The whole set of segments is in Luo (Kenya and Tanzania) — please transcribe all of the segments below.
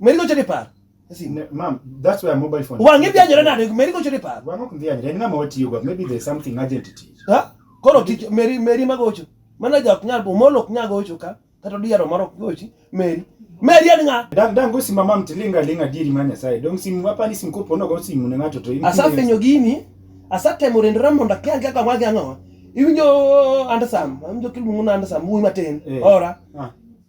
Meri gocho ni par. Ma'am, that's where mobile phone. Wangi bi anyore nade, meri gocho ni par. Wango kundi anyore, en ng'ama watiyo go, maybe there's something urgent to teach. Ha? Koro tich meri meri magocho. Mana ja ok nyal, omolo ok nyal gocho ka, kata diaro moro ok gochi, meri. Meri en ng'a? Dan dan go sima mam tilinga linga diri ma Nyasaye. Dong simu hapa ni simu kopo no go simu ne ng'ato to. Asafenyo gini, asatemo rendra mondo akia ga kama ga ng'awa. Iwinjo andasam, iwinjo kiluongo na andasam, wuoyi matin. Eh. Ora. Ah.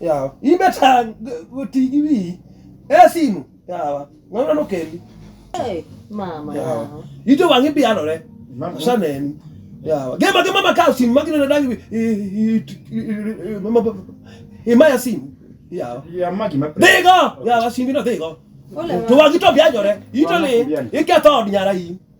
yawa in be tang ti gi wi e simu yawa ng'ano no kendi mama yawa ito wang'i bianore saneni yawa gema gema makaw simu magina na dangi imaya simu yawa dhigo yawa simbi no dhigo to wang'i to bianjore ito li iketho od nyara in